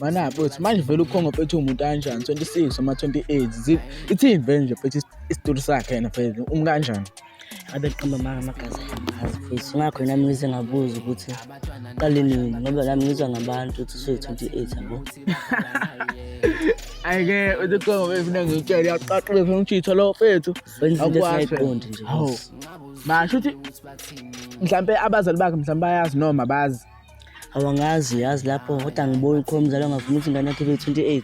Mana bhuti manje vele ukhongo phethe umuntu kanjani 26 noma 28 ithini vele nje phethe isitulu sakhe yena vele umu kanjani abeqamba manga amagazi azi futhi ngakho yena mina ngize ngabuza ukuthi qale nini ngoba nami ngizwa ngabantu ukuthi usuyi-28 yabo ayike uthi kongo befuna ngitshele yaqaqile funa ngitshitha lo fethu akwaziqondi nje basho ukuthi mhlampe abazali bakhe mhlampe bayazi noma bazi awangazi uyazi lapho kodwa ngibona ukhona umzali ongavuma ukuthi ingane yakhe ibe-28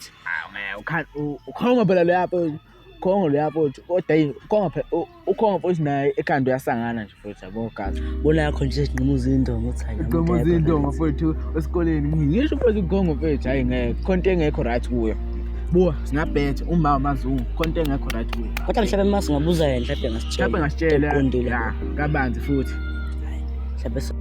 ukhongo phela loya mfowethu ukhongo loya mfowethu kodwa yini ukhongo phela ukhongo mfowethu naye ekhanda uyasangana nje mfowethu yabo gazi bona yakho nje sigquma uzindongo ukuthi hayi sigquma uzindongo mfowethu esikoleni ngisho mfowethu ukhongo mfowethu hayi ngeke khonto engekho right kuyo buwa singabhethe uma amazungu khonto engekho right kuyo kodwa mhlawumbe uma singabuza yena mhlawumbe ngasitshela mhlawumbe ngasitshela kabanzi futhi mhlawumbe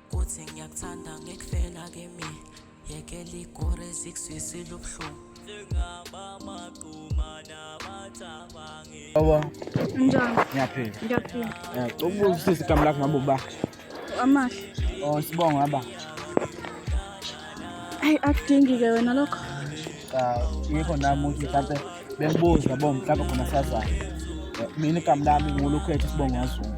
kuthi ngiyakuthanda ngekufela kimi yekela igore zikuswisile ubuhlungu Baba. Njani? Ngiyaphila. Ngiyaphila. Eh, ukubuza ukuthi igama lakho ngabe uba. Amahle. Oh, sibonga baba. Ayi akudingi ke wena lokho. Cha, yikho nami ukuthi mhlawumbe bengibuza bo mhlawumbe khona sazana. Eh, mina igama lami ngulukhethe sibonga wazungu.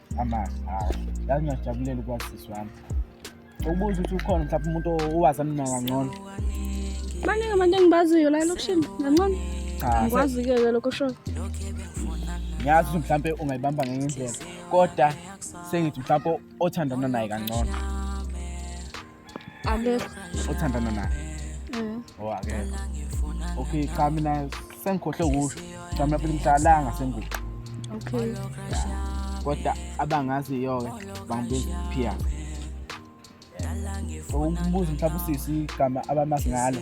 amahle hayi yazi ngiyajabulele ukwaziswa wami ukubuza ukuthi ukhona mhlawumbe umuntu owazi mina kangcono baningi abantu engibaziyo la elokishini kangcono ngikwazi-ke ke lokho sho ngiyazi ukuthi mhlawumbe ungayibamba ngenye indlela kodwa sengithi mhlawumbe othandana naye kangcono Alekho. Othandana naye. Mm. Oh akekho. Okay, cha mina sengikhohle ukusho. Cha mina phela ngihlalanga sengubo. Okay. Kodwa abangaziyo ke bangibiza Pia. Ukubuza mhlawumbe usisi igama abamazi ngalo.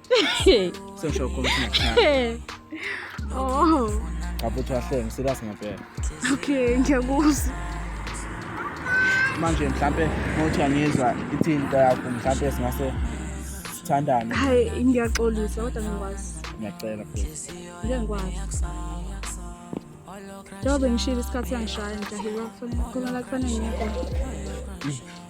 sengisho khona oh ngabuthi wahlenge serious ngempela okay ngiyakuzwa manje mhlampe ngothi angizwa ithini into yakho mhlampe singase sithandane hayi ngiyaxolisa kodwa ngikwazi ngiyacela futhi ngeke ngikwazi njengoba ngishilo isikhathi sangishaya nje ahiwa kufanele kufanele ngiyekho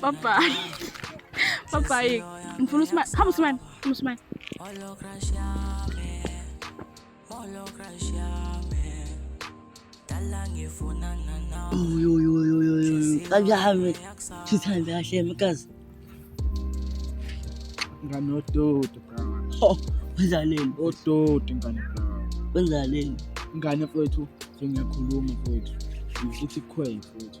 bye bye bye bye ngifuna usmile hamba usmile hamba usmile Kajahamit, sithanda kahle mkazi. Ngane odoti bra. Ho, wenzaleni? Odoti ngane bra. Wenzaleni? Ngane mfowethu, sengiyakhuluma mfowethu. Ngithi khwela mfowethu.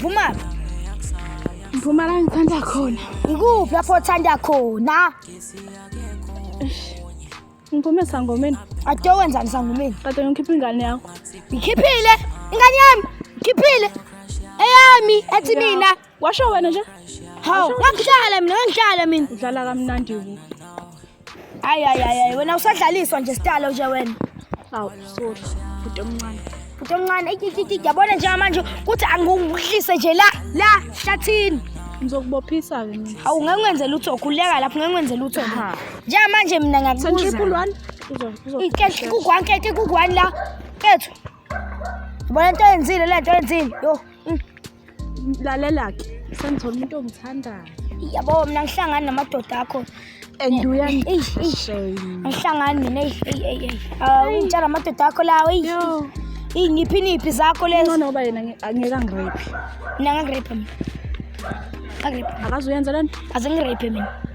Vumani. Mphuma la ngithanda khona. Ikuphi lapho othanda khona? Ngiphume sangomeni. Ade wenzani sangomeni? Kade ngikhipha ingane yakho. Ngikhiphile ingane yami. Ngikhiphile. Eyami ethi mina. Washo wena nje? Hawu, ngangidlala mina, ngangidlala mina. Udlala kamnandi wena. Hayi hayi hayi wena usadlaliswa nje stalo nje wena. Awu sorry. Futhi omncane. Futhi omncane ikikiki yabona nje manje kuthi angikuhlise nje la la hlathini. Ngizokubophisa ke mina. Awu ngeke wenze lutho khuleka lapho ngeke wenze lutho. Nje manje mina ngakubuza. Santriple 1 uzo. Ikekhe kugwanke ikekhe kugwani la. Kethu. Bona into enzile lento enzile. Yo. lalela-ke sengithola umuntu ongithandayo yabo mina ngihlangani namadoda akho and uyangihlangani mina ngitshela amadoda akho lawo iyingiphi niphi zakho lezoba yena angeke angirephi mina ngangirephe mina akazuyenza lento aze ngirephe mina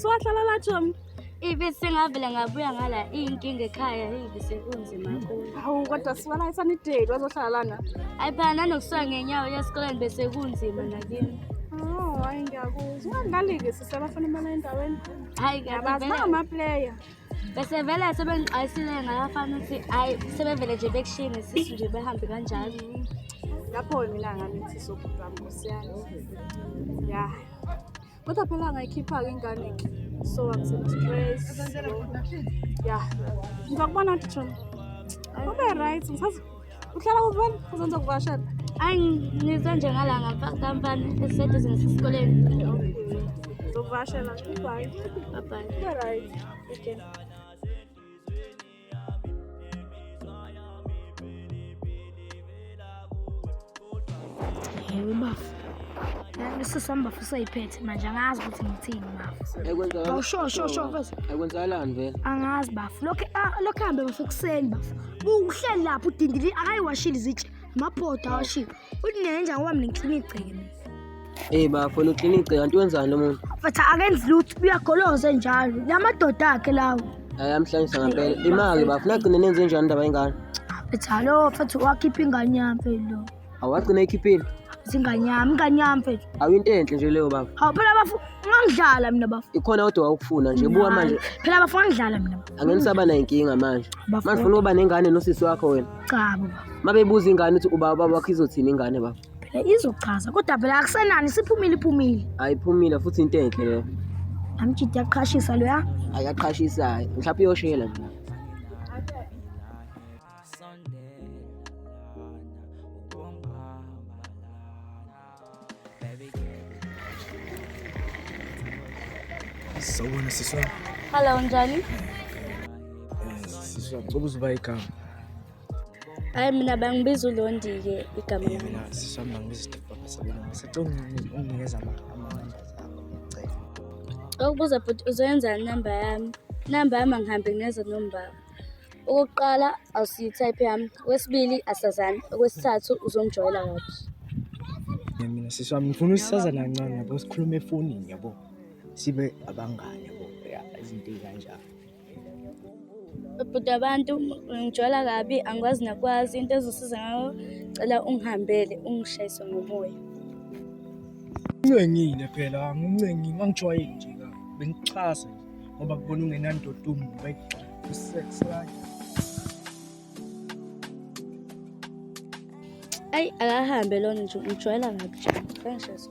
ngizowahlala la Jomi. Ibe sengavele ngabuya ngala iy'nkinga ekhaya ibe sekunzima kakhulu. Hawu kodwa siwala isanideli wazohlala lana. Hayi phela nanokusuka ngenyawo yesikoleni bese kunzima nakini. Oh, hayi ngiyakuzwa. Ungadlali-ke sisebafana imali endaweni. hayi abazibanga amaplayer bese vele sebengixwayisile ngayafana ukuthi hayi sebevele nje bekushini sisu nje behambe kanjalo lapho mina ngamithi sokuba nkosiyana ya kodwa phela ngayikhipha-ke ingane so i'm so stress ya ngizakubona ukuthi ube right ngisazi uhlala kuphi wena uzonza kuvashela ayi ngize nje ngala ngapha kampani esiseduze nesikoleni zokuvashela bye bye bye right okay Yebo bafo. Bese sihamba futhi ayiphethe manje angazi ukuthi ngithini bafo. Bawusho sho sho bese. Akwenzakalani vele? Angazi bafo. Lokho ah, lokho hambe bafo kuseni bafo. Uhleli lapho udindili akayiwashile izitsha. Amabhoda awashile. Unenja ngoba mina ngiclina igceke mina. Hey bafo uqinile kanti wenzani lo muntu? Mfethu akenzi lutho uyagoloza njalo. Lamadoda akhe lawo. Hayi amhlanyisa ngempela. Imali bafo nagcine nenze njani indaba yengane? Mfethu hallo mfethu wakhipha ingane yami phela. Awagcina ekhiphile? Zingane yami, ingane yami mfethu. Awuyinto enhle nje leyo bafo. Hawu phela bafo ngangidlala mina bafo. Ikhona kodwa wawukufuna nje buka manje. Phela bafo ngangidlala mina. Angenisaba nayo inkinga manje. Manje ufuna uba nengane nosisi wakho wena? Cha baba. Mabebuza ingane ukuthi ubaba wakho izothini ingane bafo? Phela izochaza kodwa phela akusenani siphumile iphumile. Ayiphumile futhi into enhle leyo. Amjidi yaqhashisa loya. Ayaqhashisa hayi. Mhlawumbe iyoshela nje. Sawubona siswa. Hello njani? Siswa, ngicela uzuba igama. hayi mina bangibiza ulondike igama lami mina siswami bangibiza istifoka sabona ngisacela unginikeza amanamba zakho ngicela okubuza bhuti uzoyenza inamba yami inamba yami angihambe ngeza nombaba okokuqala awusiyi-type yami okwesibili asazani okwesithathu uzongijwayela kabi mina sisi wami ngifuna usisazana kancane yabo sikhulume efonini yabo sibe abangane yabo izinto ey'kanjalo bhuti abantu ngijwala kabi angikwazi nakwazi into ezosiza ngayo cela ungihambele ungishayise ngomoya uncengile phela angincengi ngangijwayeli nje ka bengixhase ngoba kubona ungenandoda umntu usex right ayi akahambe lona nje ngijwayela kabi nje kangishayiso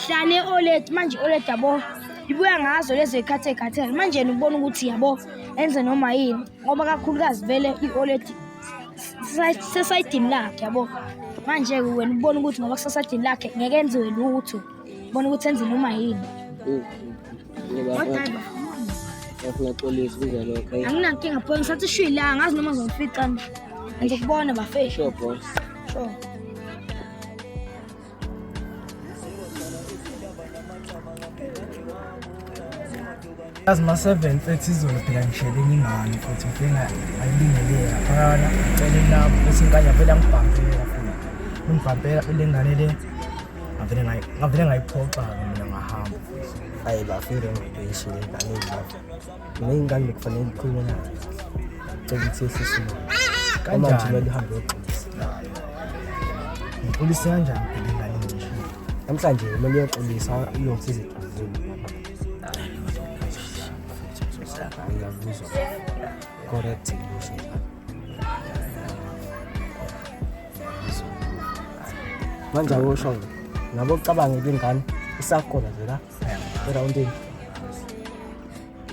Hlane Olet manje Olet yabo ibuya ngazo lezo ikhathe khathele manje ubona ukuthi yabo enze noma yini ngoba kakhulukazi vele i-Olet sesayidini lakhe yabo manje-ke wena ubona ukuthi ngoba kusasajini lakhe ngeke enziwe lutho ubona ukuthi enze noma yini anginankinga pho ngisathi ishwi la ngazi noma ngizomficana ngizokubona bafesho yazi ma-seven thirty izolo phela ngishele ngingani futhi ngifika ayibingelele laphayana ngicele lapho bese ngikanya vele angibhambele kakhulu ngibhambela le ngane le ngavele ngayiphoxa-ke mina ngahamba ayi bafile ngidweshile ngane Ney'ngane bekufanele likhulume nazo. Cela ukuthi yehlise umoya. Uma nje kumele uhambe uyoxolisa. Ngixolise kanjani phela ingane enje? Namhlanje kumele uyoxolisa uyothi iziduzulu. Ngiyakuzwa. Correct ngisho. Manje awusho nabo ucabanga ukuthi ingane isakhona nje la. erawundini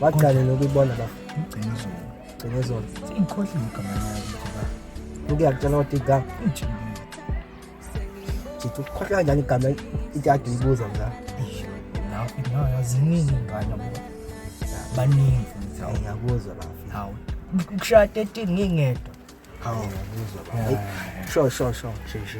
waqale nokuyibona ba ngigcine izolo gcine izolo ingikhohlile igama layo ngoba uke yakutshela ukuthi igama ijini ngithi ukhohlwa kanjani igama ithi ade uyibuza la lapho nayo ziningi ingane ngoba baningi futhi hawu ngiyakuzwa bafi hawu kushaya 13 ngingedwa hawu ngiyakuzwa bafi sho sho sho sho sho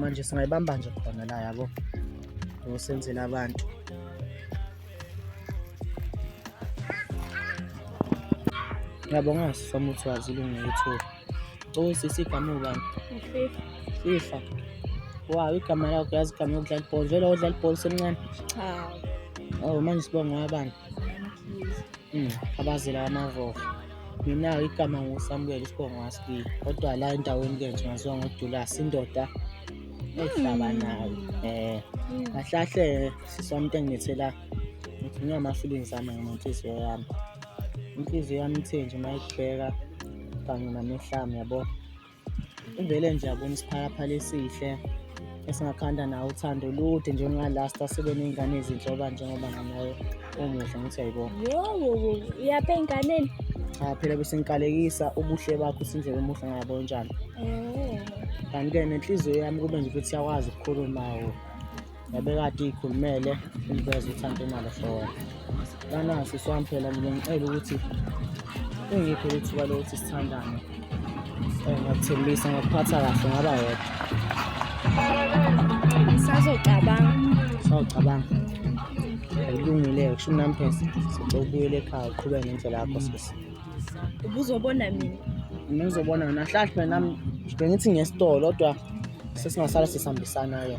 manje singayibamba nje khona la yabo ngosenzela abantu yabo ngaso samuthi wazi ilungile ukuthi uyisisi igama ubani fifa wow igama lakho yazi igama yokudlala ibhola vele odlala ibhola usemncane cha oh manje sibonga wabani Hmm, abazela amavoko mina-ke igama ngusamuel isibongo wasibili kodwa la endaweni ke nje ngaziwa ngodulasi indoda ehlaba hmm. nayo um eh, hmm. kahlahle siswamntu engilethela ngithunywa ama-feelings ami ngenhliziyo yami inhliziyo yami ithe nje uma ikubheka kanye namehlami yabo Uvele nje abona isiphalaphala esihle esingakhanda nawo uthando olude njengalasta sibe ney'ngane ezinhle oba njengoba nganayo umuhle ngithi yayibona yowo yapha ey'nganeni cha phela besengikalekisa ubuhle bakho usindlela omuhle ngabo njani oh. kanti-ke nenhliziyo yami kube nje ukuthi iyakwazi ukukhuluma wo yabekade ikhulumele iliveza ukuthi angenalo for banasi swampela mina ngicela ukuthi ungiphe ithuba lokuthi sithandane eh, ngakuthembisa ngakuphatha kahle ngaba yedwa sazocabanga sawucabanga akulungile-ke kusho umnampesa sicela ukubuyela ekhaya uqhubeke ngendlela yakho sisi ubuzobona mina mina ngizobona wena hlahle nami bengithi ngesitolo kodwa sesingasala sisihambisana-ke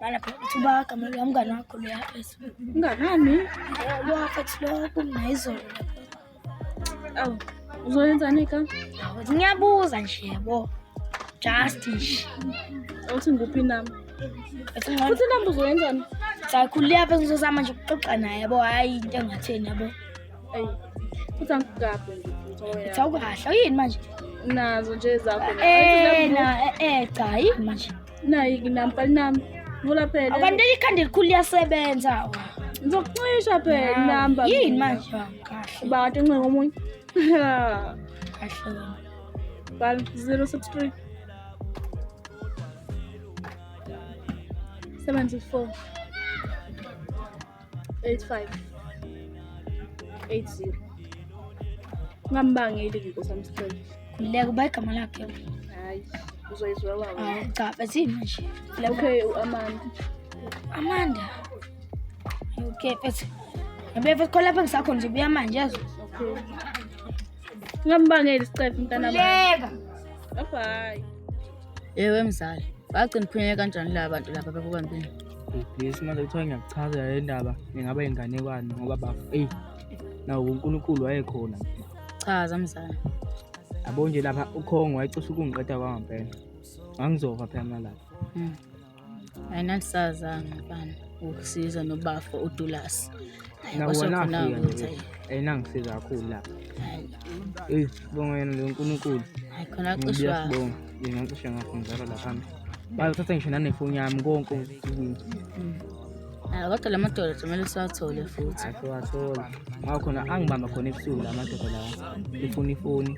Bana kuba kama lwa mngani wakho lo yaphezwa. Mnganani? Lo wafathi lo kumna izolo. Awu, uzoyenzani ka? Awu, ngiyabuza nje yabo. Just nje. Awuthi nguphi nami? Ethi ngcono. Futhi nami uzoyenzani? Sakhulile apha ngizozama nje ukuxoxa naye yabo, hayi into engatheni yabo. Ayi. Futhi angikugabhe nje. Ethi awukahle, uyini manje? Nazo nje zakho. Eh, na, eh, eh, cha, yini manje? Nayi kinampa nam. Vula phela. Abantu ikhanda elikhulu liyasebenza. Ngizokucisha phela inamba. Yini manje? Kahle. Ba kade ncenga omunye. Kahle. Bal 063 74 85 80 ungambangeli ke nkosi yami sicela khululeka uba igama lakhe hayi uzoyizwa wawo hayi cha bethini nje okay uamanda amanda okay bese ngibefe khona lapha ngisakho nje buya manje yazi okay ungambangeli sicefe mntanami khululeka bye bye Ewe mzali, bagcina ukuphunyela kanjani la bantu laba bakukwambini? Yes, manje kuthiwa ngiyakuchazela le ndaba ingaba inganekwane ngoba bafo eyi nawo uNkulunkulu wayekhona. Chaza mzali. Yabo nje lapha ukhongo wayecisha ukungiqeda kwangampela. Ngangizofa phela mina lapha. Mm. ayinalisazanga mfana ukusiza nobafo udulasi ayinangisiza kakhulu lapha eyi sibonga yena leyo nkulunkulu khona cisha sibonga ngingacisha ngakho ngizalwa laphambi bayothatha ngisho nanefoni yami konke Ah, kodwa la madoda kumele siwathole futhi asiwathole ngoba khona angibamba khona ebusuku la madoda lawa efuna ifoni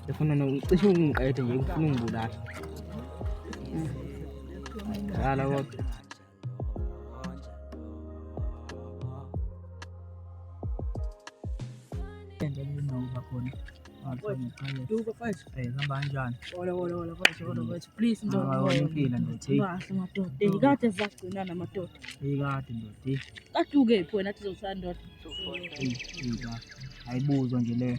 efuna cishe ungiqede nje ufuna ungibulala Dala kodwa. kade zagcina namadoda ikade ndodi kade ukephi wena athi zozisana ndoda ayibuzwa nje leyo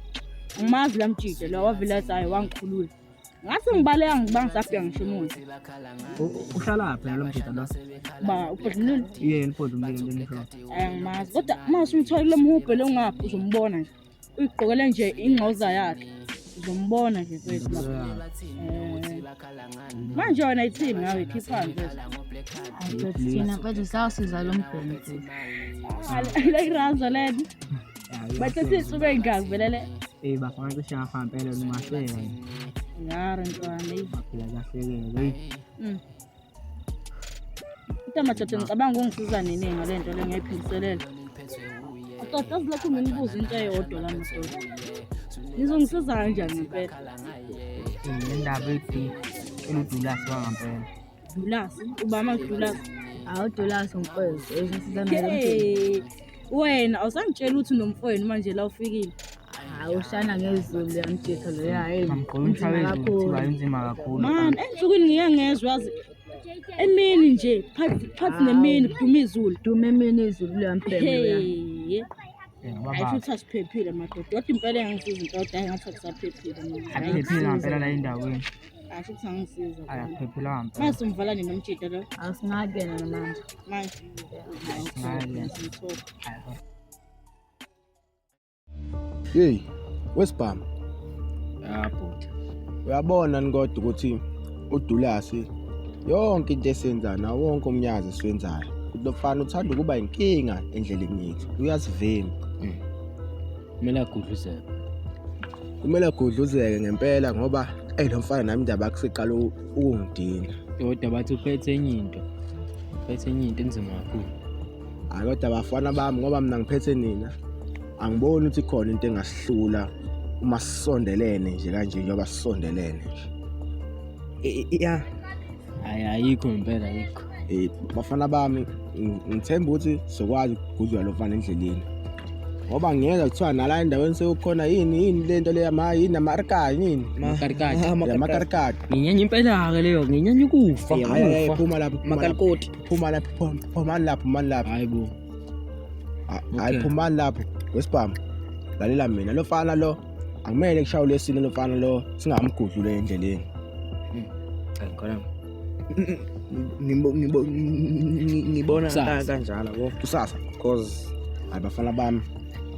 ngimazi la mjide lo wavilazayo wangikhulula ngathi ngibaleka ngiba ngisabheka ngisho umuntu uhlalaphi lo mjide lo ba ubhodlulile yena ubhodlulile ngisho angimazi kodwa uma usumthola lo mhubhe lo ngapha uzombona nje uyigqokele nje ingcoza yakhe uzombona nje kwethu manje wena ithini ngawe khiphani thina kwethu sawusiza lo mbheni futhi like ranzo lena Bathathe isuka ingazi vele le. Eh bafana cishe ngafampela lumahleka. Ngare ntwana yi. Baphila kahlekele. Hey. Mm. Utamathathe ngicabanga ungisiza nini ngale nto le ngiyiphindiselela. Atoda zilokhu nginibuza into eyodwa la madoda. Nizongisiza kanjani ngempela? Indaba ethi eludulasi wangampela. Dulasi, ubama Dulasi. Hawu Dulasi mfowethu, hey, wena awusangitshela ukuthi unomfowenu manje la ufikile. Hayi ushana ngezulu liyamjitha lo yayi. Inzima kakhulu. Man, ensukwini ngike ngezwe yazi emini nje phathi phathi nemini kuduma izulu. Duma emini izulu liyambhema. Hey. Ayisho ukuthi asiphephile madoda. Kodwa impela engangisiza intoda engathi akusaphephile. Aphephile ngempela la endaweni. Asho ukuthi angisiza. Ayaphephela hamba. Mase umvala nini umjita lo? Asingayi kuyena namanje. Manje. Hey, wesibhamu. Ah, bhuti. Uyabona ni kodwa ukuthi udulasi yonke into esenzayo nawo wonke umnyazi esiwenzayo. Lofana uthanda ukuba inkinga endleleni yethu. Uyasivimba. Mm. kumele agudluzeke kumele agudluzeke ngempela ngoba eyi lo mfana nami ndaba kusiqala ukungidina kodwa bathi uphethe enye into uphethe enye into enzima kakhulu hayi kodwa bafana bami ngoba mina ngiphethe nina angiboni ukuthi khona into engasihlula uma sisondelene nje kanje njengoba sisondelene nje ya hayi ayikho impela ayikho Eh, bafana bami ngithemba ukuthi sokwazi ukugudlula lo mfana endleleni ngoba ngeke kuthiwa nala endaweni sekukhona yini yini le nto leya ma yini amarikani yini Makarikati. Ah, makarikati. amakarikati Nginyanya impela-ke leyo, nginyanya ukufa. Hayi, hayi, hayi, ukufa. phuma lapho phuma lapho, Makarikoti. phuma lapho phum- phumani lapho phumani lapho Hayi bo. Ha- hayi Okay. phumani lapho wesibhamu lalela mina lo mfana lo akumele kushawule esini lo mfana lo singamgudlule endleleni Hayi, khona. ngibona kanjalo bo kusasa because hayi bafana bami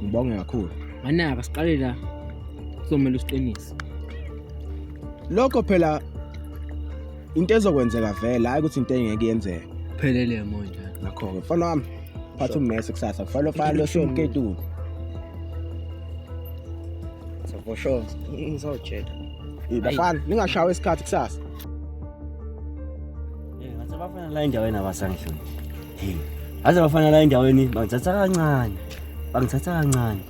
ngibonge kakhulu anaka siqale la kuzomele usiqinise lokho phela into ezokwenzeka vele hayi ukuthi into engeke yenzeke phelele manje ngakho-ke mfana wami phatha ummese kusasa kufanele ufale osomketulu for sure ngizotshela bafana ningashawa isikhathi kusasa ngathi abafana la endaweni abasangihloni hey ngathi abafana la endaweni bangithatha kancane bangithatha kancane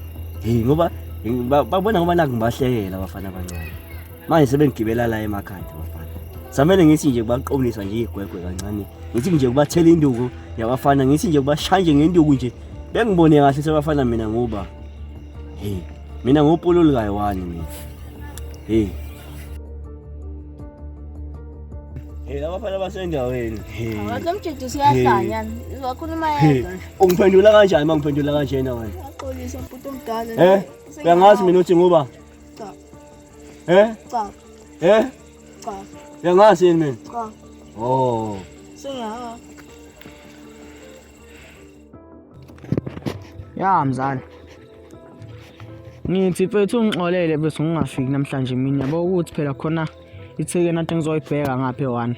hey ngoba babona ngoba naku ngibahlekela abafana abancane manje sebengigibela la emakhanda abafana samele ngithi nje kubaqomlisa nje igwegwe kancane ngithi nje kubathela induku yabafana ngithi nje kubashanje ngenduku nje bengibone kahle sebafana mina ngoba hey mina ngopululukayo wani mina hey Hey, laba fana basendaweni. Wakamjidisa uyahlanya. Wakhuluma yedwa. Ungiphendula kanjani uma ngiphendula kanjena wena? Uyaxolisa mputu omdala. Eh? Uyangazi mina uthi nguba? Cha. Eh? Cha. Eh? Cha. Uyangazi yini mina? Cha. Oh. Sengiyawa. Ya mzala. Ngithi mfethu ungixolele bese ngingafiki namhlanje mina yabo ukuthi phela khona ithekeni athi ngizoyibheka ngaphe one.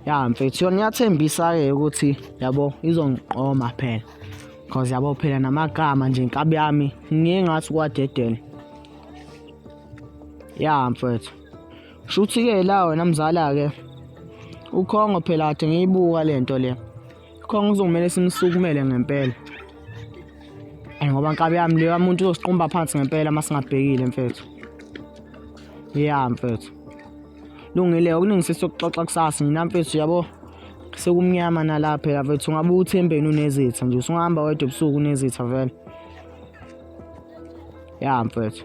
Ya mfethu yona ngiyathembisa ke ukuthi yabo izongiqoma phela. Cause yabo phela namagama nje inkabi yami ngingathi kwadedele. Ya mfethu. Shuthi-ke la wena mzala-ke ukhongo phela kade ngiyibuka le nto le khongo kuzomele simsukumele ngempela and ngoba nkabi yami leyo muntu uzosiqumba phansi ngempela uma singabhekile mfethu ya mfethu lungile okuningisisa ukuxoxa kusasa nina mfethu yabo sekumnyama nalapha phela mfethu ungabe uthembeni unezitha nje usungahamba wedwa ebusuku unezitha vele ya mfethu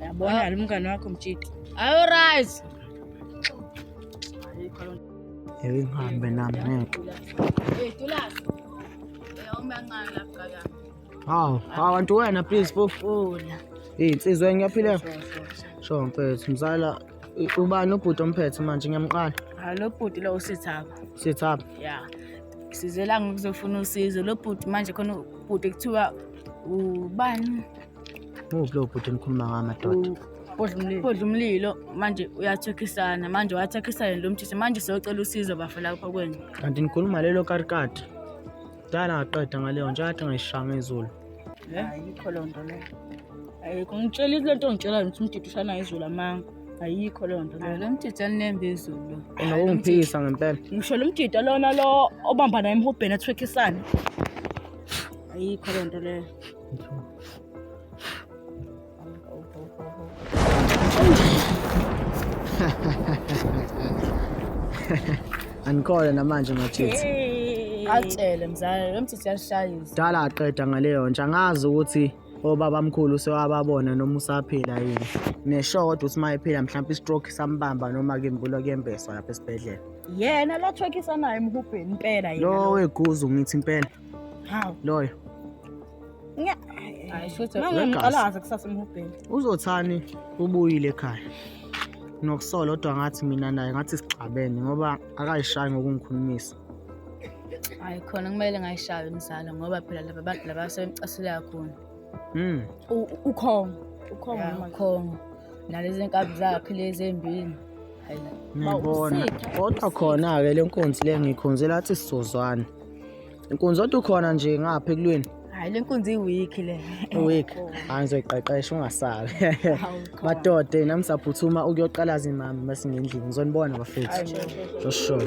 Yabona ah. umngane wakho mjidi. Ayo right. Yebo ngihambe nami ngeke. Hey Tulasi. Eyawumbe kancane lapha kaka. Haw, haw antu wena please bofuna. Hey insizwa ngiyaphila. Sho mfethu mzala ubani ubhuti omphethe manje ngiyamqala. Ha ah, lo bhuti lo usithaba. Sithaba. Yeah. Sizela ngokuzofuna usizo lo bhuti manje khona ubhuti kuthiwa ubani muphi lowo bhuti enikhuluma ngawo amadoda bodla umlilo manje uyathekhisana manje wathekhisana yena lo mthise manje seyocela usizo bafo lapho kwenu kanti nikhuluma lelo karikati dala ngaqeda ngaleyo nje athi ngayishanga izulu ayikho loo nto leyo ayikho ngitshela into lento ngitshela ngithi umdidi ushana izulu amanga ayikho loo nto leyo lo mdidi anembe izulu unokungiphikisa ngempela ngisho lo mdidi lona lo obambana emhubheni ethwekhisana ayikho le nto leyo anikole namanje machithi atshele mzala lo mthithi yashayisa dala aqeda ngaleyo nje angazi ukuthi obabamkhulu sewababona noma usaphila yini nesho kodwa uthi mayephila mhlawumbe istroke sambamba noma kembula kuyembeswa lapha esibhedlela yena lo thwekisa naye emhubheni impela yena lo weguzu ngithi impela Hawu. Loyo. Nya. Hayi shothi Manje ngiqalaza kusasa umhubheni. Uzothani ubuyile ekhaya. Nokusola kodwa ngathi mina naye ngathi sixabene ngoba akayishayi ngokungikhulumisa. Hayi khona kumele ngayishaye umzalo ngoba phela laba bantu laba sebemcasule kakhulu. Mm. U- Ukhongo. Ukhongo Ya, noma Ukhongo. Nalezi nkabi zakhe lezi embili. Hayi. Ngibona. usitha, Kodwa khona-ke le nkunzi le ngikhonzela athi sizozwana. Inkunzi odwa ukhona nje ngapha ekulweni. Hayi lenkunzi iweek le. Iweek. Hayi ngizoyiqeqesha ungasali. Madoda yena msaphuthuma ukuyoqala zimama bese ngendlini. Ngizonibona bafethu. For sure.